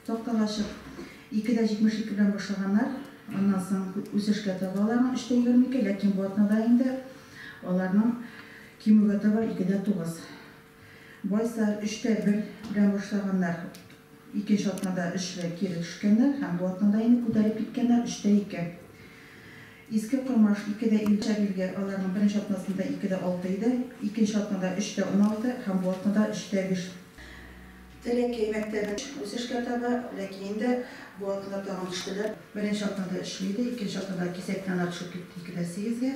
Тактага ачык. Ике дә 72 белән башлаганнар. Аннан соң үсешкә таба аларның өч тә егерме ике, ләкин бу атнада инде аларның кимүгә таба ике дә тугыз. Байсар өч тә бер белән башлаганнар. Икенче атнада өч белән кире төшкәннәр һәм бу атнада инде күтәрелеп киткәннәр, өч тә ике. Иске Кормаш ике дә илле чак илгә, аларның беренче атнасында ике дә алты иде. Икенче атнада өч тә уналты һәм бу атнада өч тә биш. Теләкәй мәктәбе үсешкә таба, ләкин инде бу атна тагын төштеләр. Беренче атнада өчле иде, икенче атнада кисәк янә төшеп китте, икедә сигезгә.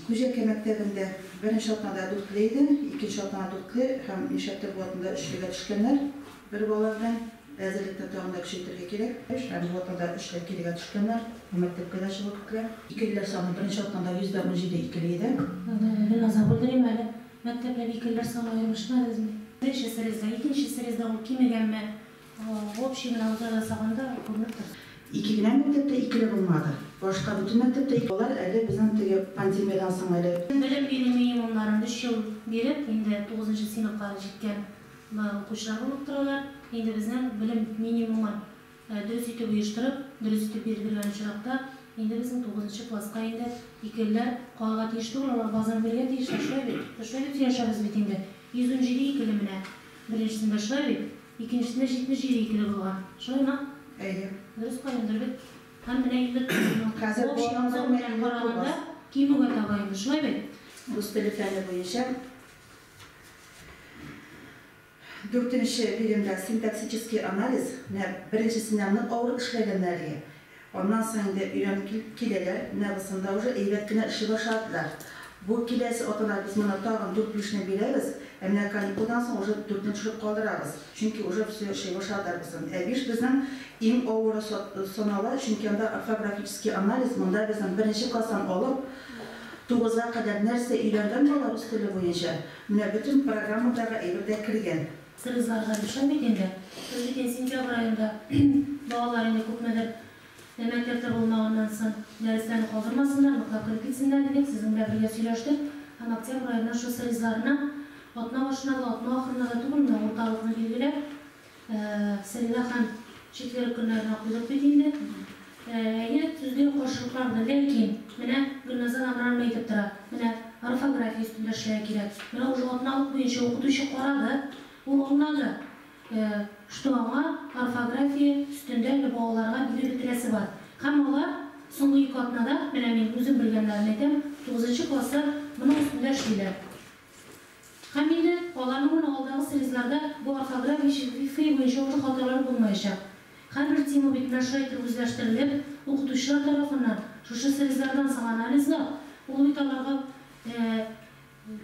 Күҗәкәй мәктәбендә беренче атнада дүртле иде, икенче атнада дүртле һәм нишләптер бу атнада өчлегә төшкәннәр. Бер бала белән әзерлекне тагын да көчәйтергә кирәк. Һәм бу атнада өчле кирегә төшкәннәр, бу мәктәпкә дә чыгу көтелә. Икелеләр саны беренче атнада йөз дә унҗиде икеле иде. Бераз авырдыр име әле? Мәктәпләр икеләр саны аермышмадызмы? Беренче срезда, икенче срезда ул кимегәнме? Общий менә алдан ясаганда күренеп тор. Ике генә мәктәптә икеле булмады. Башка бөтен мәктәптә ике. Алар әле безнең теге пандемиядән соң әле. Белем бирү минимумнарын өч ел биреп, инде тугызынчы сыйныфка җиткән укучылар булып торалар. Инде безнең белем минимумы. Дөрес итеп оештырып, дөрес итеп бирдергән очракта, инде безнең тугызынчы класска инде икелеләр калырга тиеш түгел, алар баздан бирергә тиешләр, шулай бит? Без шулай дип сөйләшәбез бит инде. 117 икеле менә беренчесендә, шулай бит? Икенчесендә 77 икеле булган. Шулаймы? Әйе. Дөрес календр бит. Һәм менә 54 ел. Хәзер Общий объем балаларның белән 59. караганда кимүгә таба инде, шулай бит? Рус теле фәне буенча. Дүртенче биремдә синтаксический анализ, менә беренчесеннән нык авыр эшләгәннәр әлегә, аннан соң инде өйрәнеп килеп киләләр, менә бысында уже әйбәт кенә эшли башладылар. Бу киләсе атнада без моны тагын дүрт бирешне бирәбез, ә менә каникулдан соң уже дүртне төшереп калдырабыз, чөнки уже все эшли башладылар бысын. Ә биш безнең иң авыры санала, чөнки анда орфографический анализ, монда безнең беренче класстан алып тугызга кадәр нәрсә өйрәнгән бала рус теле буенча, Менә бөтен программадагы әйбер дә кергән. Кыргызларда ришвәт бит инде. Без бит инде сентябрь аенда балалар инде күпмедер мәктәптә булмаганнан соң дәресләрне калдырмасыннар, ныклап кереп китсеннәр дидек, сезнең белән бергә сөйләштек һәм октябрь аеннан шоссе ризларына атна башына да, атна ахырына да түгелме, урталыкны билгеләп, Сәлимә ханым, четверг көннәрен укыйдык бит инде. Әйе, сүздә каршылыклар бар, ләкин менә Гөлназар Амранова әйтеп тора, менә орфография өстендә эшләргә кирәк. Менә ул җаваплылык буенча укытучы карады, ул аңлады, что аңа орфография өстендә балаларга биреп бетерәсе бар. Һәм алар соңгы ике атнада, менә мин үзем белгәннәрен әйтәм, тугызынчы класслар моның өстендә эшлиләр. Һәм инде аларның менә алдагы срезларда бу орфография шрифты буенча урта хаталар булмаячак. Һәрбер тема битенә шулай итеп үзләштерелеп, укытучылар тарафыннан шушы срезлардан соң анализлап, ул бит аларга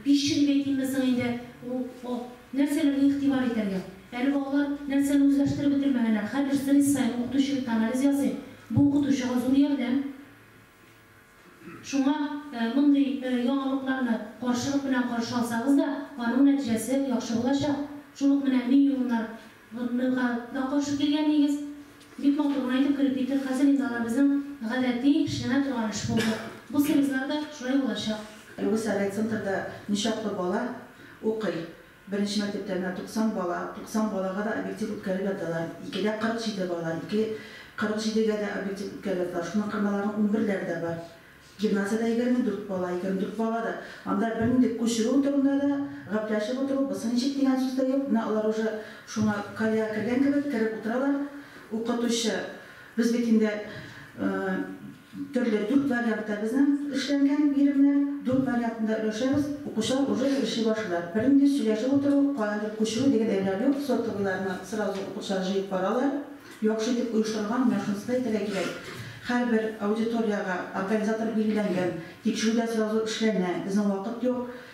пищевик әйтимме соң инде, ул нәрсәләргә игътибар итәргә? Әле балалар нәрсәне үзләштереп бетермәгәннәр, һәрбер срез саен укытучы бит анализ ясый, бу укытучыга зур ярдәм. Шуңа мондый яңалыкларны каршылык белән каршы алсагыз да, аның нәтиҗәсе яхшы булачак. Шул ук менә мин юллар ныга да каршы килгән нигез. Бик матур гына итеп кереп китте, хәзер инде алар безнең гадәти эшләнә торган эш булды. Бу сервизлар да шулай булачак. Әлеге совет центрда ничаклы бала укый? Беренче мәктәптә менә 90 бала, 90 балага да объектив үткәреп яталар. Икедә 47 бала, ике 47 гә дә объектив үткәреп яталар. Шуның кырмаларның унберләре дә бар. Гимназиядә 24 бала, 24 бала да. Анда бернинди күчерү турында да, гапләшеп утыру, бысы ничек дигән сүз дә юк. Менә алар уже шуңа колеяга кергән кебек, кереп утыралар. Укытучы, без бит инде Төрле дүрт вариантта безнең эшләнгән биремнәр. Дүрт вариантында өләшәбез. Укучылар уже эшли башлыйлар. Бернинди сөйләшеп утыру, каяндыр күчерү дигән әйберәр юк. Сотовыйларны сразу укучылар җыеп баралар. Яхшы итеп оештырылган мәхнскай итәргә кирәк. Һәрбер аудиториягә организатор билгеләнгән. Тикшерү дә сразу эшләнә. Безнең вакыт юк.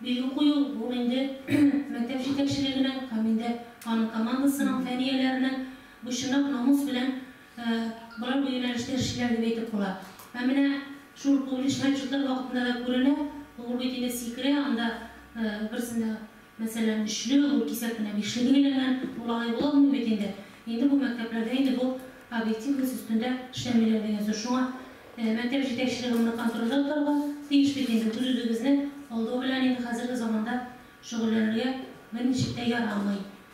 Билге кую бу инде мәктәп җитәкчелегенең һәм инде аның командасының, фәнияләренең бу чынлап намус белән болар бу юнәлештә эшлиләр дип әйтеп була. Һәм менә шул публичный отчетлар вакытында да күренә, ул бит инде сикерә, анда берсендә, мәсәлән, өчле, ул кисәк кенә бишле билгеләнгән, ул алай була алмый бит инде. Инде бу мәктәпләрдә инде бу объективность өстендә эшләмиләр дигән сүз. Шуңа Мәктәп җитәкчелеге моны контрольдә тотарга тиеш бит инде, үз-үзегезне алдау белән инде хәзерге заманда шөгыльләнергә берничек тә ярамый.